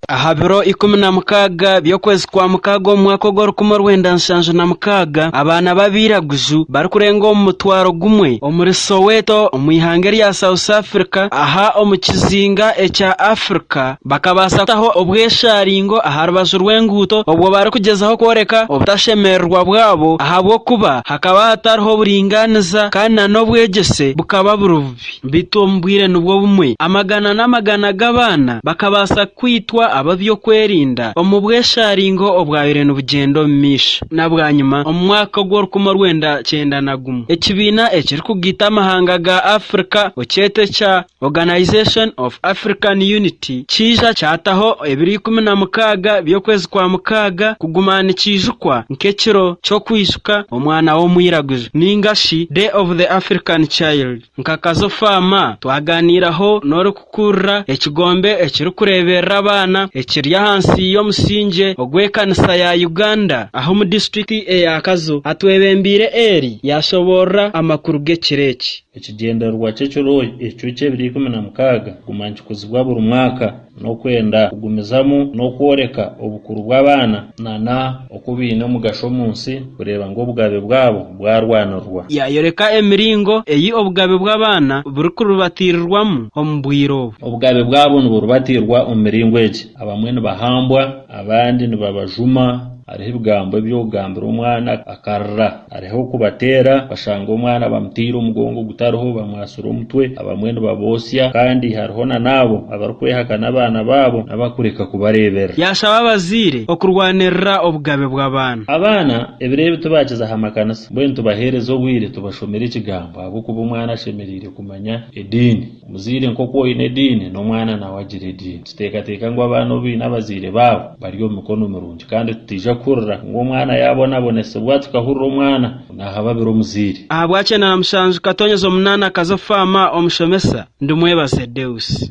Aha biro ikumi na mukaaga by'okwezi kwa mukaaga omu mwaka ogw'orukumi orwenda nshanju na mukaaga, abaana b'abairaguju barikurenga omu mutwaro gumwe omuri Soweto omu ihanga erya South Africa aha omu kizinga ekya Africa, Bakabaasa kutaho obweshaaringo aha rubaju rw'enguuto obwo barikugyezaho kworeka obutashemererwa bwabo ahabw'okuba hakaba hatariho buringaaniza kandi na n'obwegyese bukaba buri bubi. Beitu omu bwire nibwo bumwe, amagana n'amagana g'abaana bakabaasa kwitwa ab'eby'okwerinda omu bweshaaringo obwabaire nibugyenda omu maisho. Na bwanyima, omu mwaka ogw'orukumi orwenda kyenda na gumwe, ekibiina ekirikugaita amahanga ga Afrika okyete ekya Organisation of African Unity kiija kyataho ebiro ikumi na mukaaga by'okwezi kwa mukaaga kuguma nikiijukwa nk'ekiro ky'okwijuka omwana w'omwiraguju ninga shi Day of the African Child. Nka Kazofaama, twaganiiraho n'orikukurira ekigombe ekirikureeberera abaana ekiri ahansi y'omusingye ogw'ekanisa ya Uganda ah'omu disiturikiti eya Kazo atwebembeire eri yaashoboorora amakuru g'ekiro eki. Ekigyendererwa ky'ekiro ekyo ky'ebiro ikumi na mukaaga kuguma nikikuzibwa buri mwaka n'okwenda kugumizamu n'okworeka obukuru bw'abaana nana oku baine omugasho omu nsi kureeba ngu obugabe bwabo bwarwanirwa. Yaayoreka emiringo ei obugabe bw'abaana burikuribatiirirwamu omu bwire obu. Obugabe bwabo niburibatiirwa omu miringo egi, abamwe nibahambwa, abandi nibabajuma, hariho ebigambo eby'okugambira omwana akarira. Hariho kubateera, bashanga omwana bamuteire omugongo gutariho, bamwatsire omutwe, abamwe nibabotsya kandi hariho na n'abo abarikwehakana abaana baabo n'abakureka kubareeberera. Yaashaba abazaire okurwanirira obugabe bw'abaana. Abaana ebiro ebi tibaakiza aha makanisa, mbwenu tubaheereze obwire tubashomere Ekigambo ahabw'okuba omwana ashemereire kumanya ediini. Muzaire nk'oku oine ediini, n'omwana nawe agira ediini. Tuteekateeka ngu abaana obu baine abazaire baabo, bari omu mikono mirungi. Kandi tutaija kuhurira ngu omwana yaabonabonesibwa tukahurira omwana ngu naahababira omuzaire. Ahabwaki Enaanamushanju Katonyeza Omunaana Akaza oku Faama Omushomesa Ndimwebaze Deus.